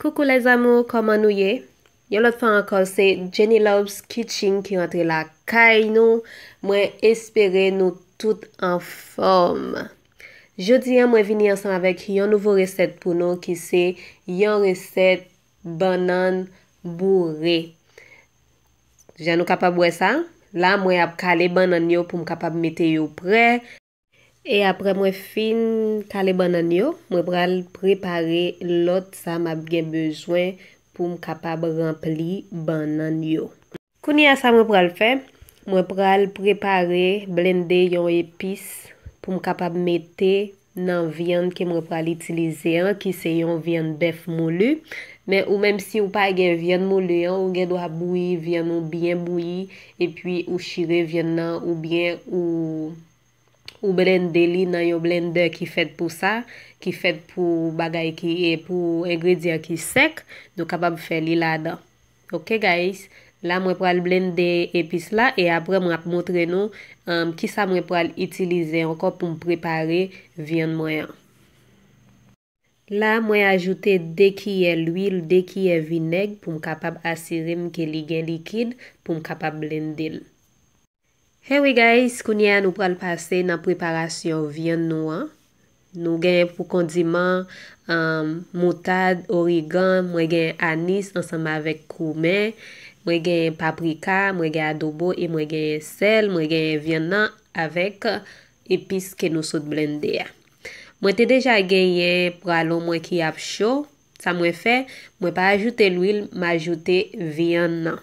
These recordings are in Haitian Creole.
Coucou les amours kòman nou ye Yon lòt fwa ankò se Jenny Loves Kitchen ki rantre la kay nou Mwen espere nou tout anfòm Jodi an mwen vini ansanm avèk yon nouvo resèt pou nou ki se yon resèt bannann boure. Jan nou kapab wè sa, la mwen ap kale bannann yo pou m kapab mete yo prè. E aprè mwen fin kale bannann yo, mwen pral prepare lòt sa m ap gen bezwen pou m kapab ranpli bannann yo. Kounye a sa mwen pral fè, mwen pral prepare, blende yon epis pou m kapab mete nan vyann ke mwen pral itilize an ki se yon vyann bèf moulu, men ou menm si ou pa gen vyann moulu an ou gen dwa bouyi vyann ou byen bouyi epi ou chire vyann nan ou byen ou ou blende li nan yon blendè ki fèt pou sa, ki fèt pou bagay ki e pou engredyan ki sèk, nou kapab fè li ladan. Ok guys la mwen pral blende epis la e aprè mwen ap montre nou kisa mwen pral itilize ankò poum prepare vyann mwen an. La mwen ajoute 2 kiyè lwil 2 kiyè vinèg poum kapab asirem ke li gen likid poum kapab blendel. Hey wi guys kounye a nou pral pase nan preparasyon vyann nou an nou gen pou kondiman um moutad origan mwen gen anis ansanm avèk koumen mwen gen paprika mwen gen adobo e mwen gen sèl mwen gen vyann nan avèk epis ke nou sot blende a mwen te deja genyen pralon mwen ki ap cho sa mwen fè mwen pa ajoute lwil m ajoute vyann nan.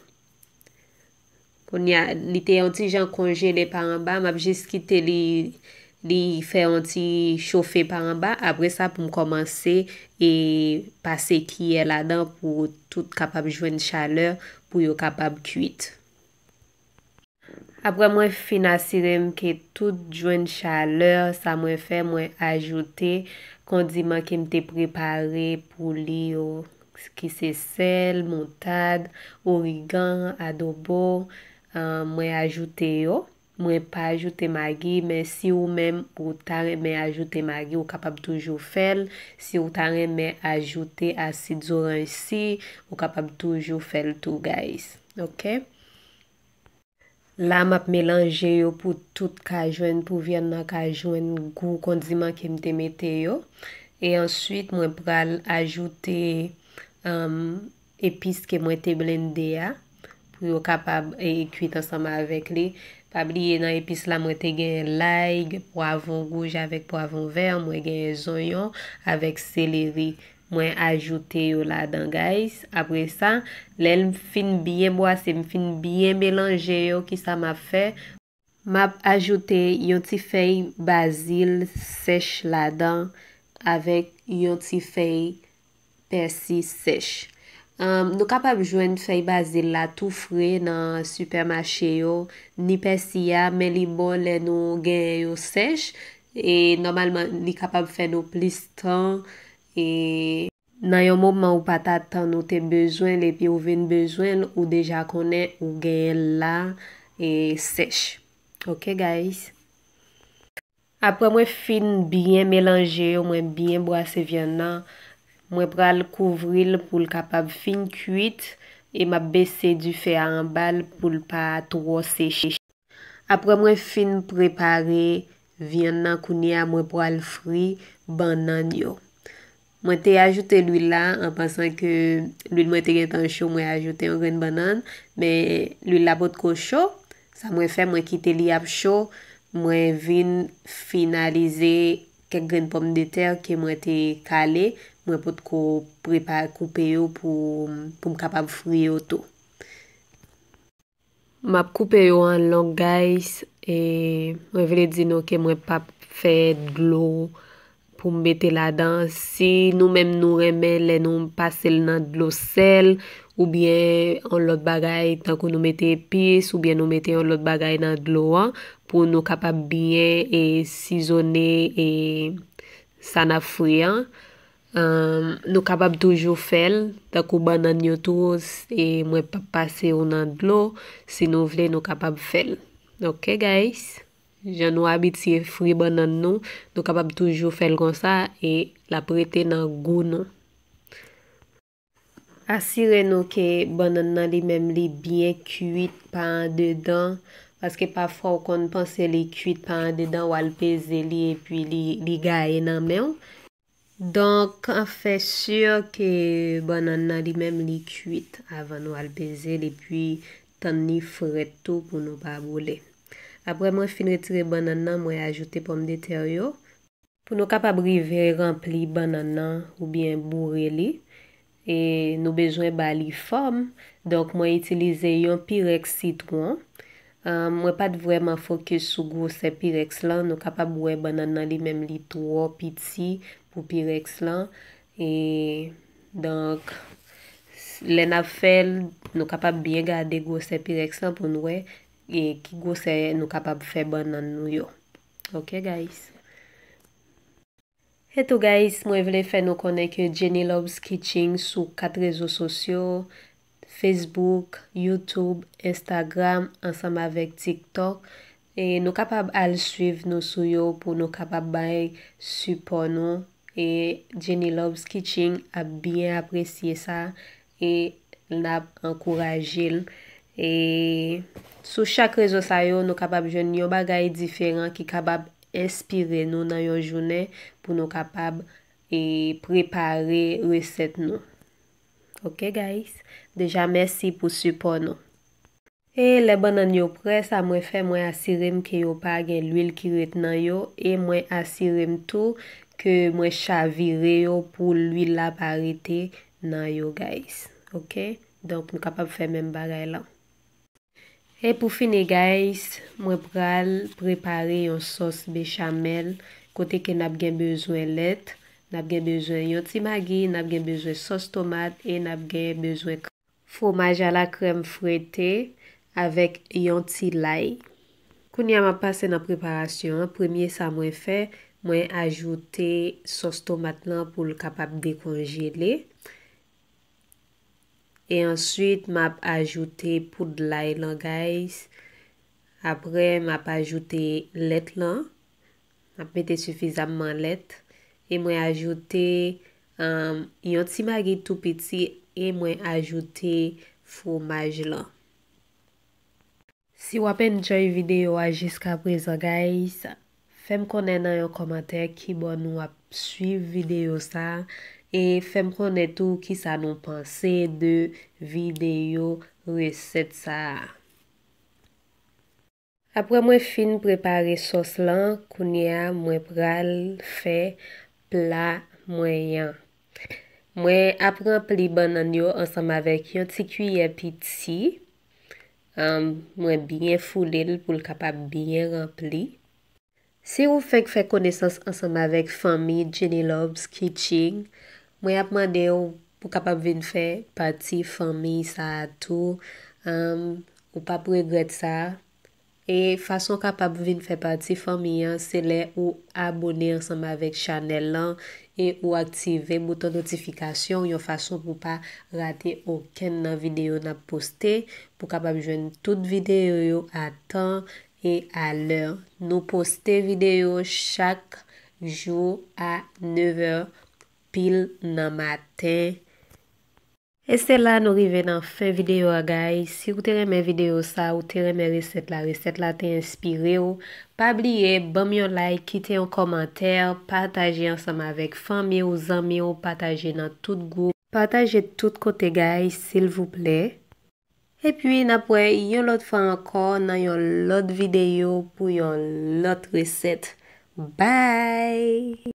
Kounye a li te yon ti jan konjele pa anba, m ap jis kite li li fè yon ti chofe pa anba, apre sa pou m kòmanse e pase kiyè ladan pou tout kapab jwenn chalè pou yo kapab kuit. Apre mwen fin asire m ke tout jwenn chalè sa mwen fè mwen ajoute kondiman ke m te prepare pou li yo ki se sèl, moutad, origan, adobo, mwen ajoute yo, mwen pa ajoute magi men si ou menm ou ta renmen ajoute magi ou kapab toujou fèl, si ou ta renmen ajoute asid zoranj si ou kapab toujou fèl tou guys ok. La map melanje yo pou tout ka jwenn pou vyann nan ka jwenn gou kondiman kem te mete yo e answit mwen pral ajoute epis ke mwen te blende a pou yo kapab kwit ansanm avèk li pa bliye nan epis la mwen te gen lay, pwavon rouj avèk pwavon vè mwen gen zonyon avèk seleri Mwen ajoute yo ladan guys. Apre sa, lè m fin byen bwase, m fin byen melanje yo, kisa m ap fè? M ap ajoute yon ti fèy bazil sèch ladan avèk yon ti fèy pèsi sèch. Nou kapab jwenn fèy bazil la tou fre nan sipèmache yo, ni pèsi a, men li bon lè nou genyen yo sèch. E nòmalman li kapab fè nou plis tan e. Nan yon moman ou pa t atann ou te bezwen l epi ou vin bezwen l ou deja konnen ou genyen l la e sèch ok guys. Aprè mwen fin byen melanje yo mwen byen bwase vyann nan mwen pral kouvri l pou l kapab fin kuit e m ap bese dife a anba l pou l pa twò seche. Aprè mwen fin prepare vyann nan kounye a mwen pwal fri bannann yo. Mwen te ajoute lwil la an pansan ke lwil mwen te gentan cho mwen ajoute yon grenn bannann men lwil la potko cho sa mwen fè mwen kite li ap cho mwen vin finalize kèk grenn pòmdetè ke mwen te kale mwen potko prepare koupe yo pou m kapab fri yo tou. Map koupe yo an long guys e mwen vle di nou ke mwen pap fè dlo pou m mete ladan si nou menm nou renmen lè nou pase l nan dlo sèl oubyen yon lòt bagay tankou nou mete epis oubyen nou mete yon lòt bagay nan dlo an pou nou kapab byen e sizone e sa nap fri an. Nou kapab toujou fèl tankou bannann yo tou e mwen pap pase yo nan dlo si nou vle nou kapab fèl ok guys jan nou abitye fri bannann nou nou kapab toujou fèl konsa e lap rete nan gou nou. Asire nou ke bannann nan li menm li byen kuit pa andedan, paske pafwa ou konn panse li kuit pa andedan wal peze li epi li gaye nan menw, donk fè sur ke bannann nan li menm li kuit avan nou al pezel epi tann li frèt tou pou nou pa boule. Aprè mwen fin retire bannann nan mwen ajoute pòmdetè yo, Pou nou kapab rive ranpli bannann nan oubyen boure li, e nou bezwen ba li fòm, donk mwen itilize yon pirèks sitwon. Mwen pa t vrèman fokis sou gwosè pirèks lan, nou kapab wè bannann nan li menm li twò piti pou pirèks lan, e donk lè n ap fè l nou kapab byen gade gwosè pirèks lan pou n wè ki gwosè nou kapab fè bannann nou yo. Ok guys. E tou guys mwen vle fè nou konnen ke Jenny Loves Kitching sou 4 rezo sosyo, Facebook, YouTube, Instagram ansanm avèk TikTok. E nou kapab al swiv nou sou yo pou nou kapab bay sipò nou. E Jenny Loves Kitching ap byen apresye sa. e nap ankouraje l e sou chak rezo sa yo nou kapab jwenn yon bagay diferan ki kapab enspire nou nan yon jounen pou nou kapab e prepare resèt nou ok guys deja mèsi pou sipò nou. E lè bannann yo prè sa mwen fè mwen asirem ke yo pa gen lwil ki ret nan yo e mwen asirem tou ke mwen chavire yo pou lwil la pa rete nan yo guys ok donk nou kapab fè menm bagay lan. E pou fini guys mwen pral prepare yon sòs bechamel kote ke nap gen bezwen lèt nap gen bezwen yon ti magi nap gen bezwen sòs tomat e nap gen bezwen Fwomaj ala krèm frite avèk yon ti lay. Kounye a map pase nan preparasyon an, premye sa mwen fè mwen ajoute sòs tomat lan poul kapab dekonjele e answit map ajoute poud lay lan guys aprè map ajoute lèt lan Map mete sifizamman lèt e mwen ajoute yon ti magi tou piti e mwen ajoute fwomaj lan. Si wap enjoy video a jiskaprezan guys, fèm konnen nan yon kòmantè kibò nou ap swiv video sa e fèm konnen tou kisa nou panse de video resèt sa. Aprè mwen fin prepare sòs lan kounye a mwen pral fè pla mwen yan. Mwen ap ranpli bannann yo ansanm avèk yon ti kiyè piti, mwen byen foule l pou l kapab byen ranpli. Si ou fenk fè konesans ansanm avèk fanmi Jennyloves Kitching, mwen ap mande w pou kapab vin fè pati fanmi sa a tou, humm ou pap regrèt sa, e fason w kapab vin fè pati fanmi an se lè ou abone ansanm avèk chanèl lan e ou aktive bouton notifikasyon yon fason pou pa rate okenn nan videyo n ap poste, pou kapab jwenn tout videyo yo a tan E a lè Nou poste video chak Jou a 9 è pil nan maten. E se la nou rive nan fen video a guys si ou te renmen video sa ou te renmen resèt la resèt la te enspire ou pa bliye banm yon like kite yon kòmantè pataje ansanm avèk fanmi ou zanmi ou pataje nan tout gwoup pataje tout kote guys silvouplè. Epi n ap wè yon lòt fwa ankò nan yon lòt videyo pou yon lòt resèt. Bye!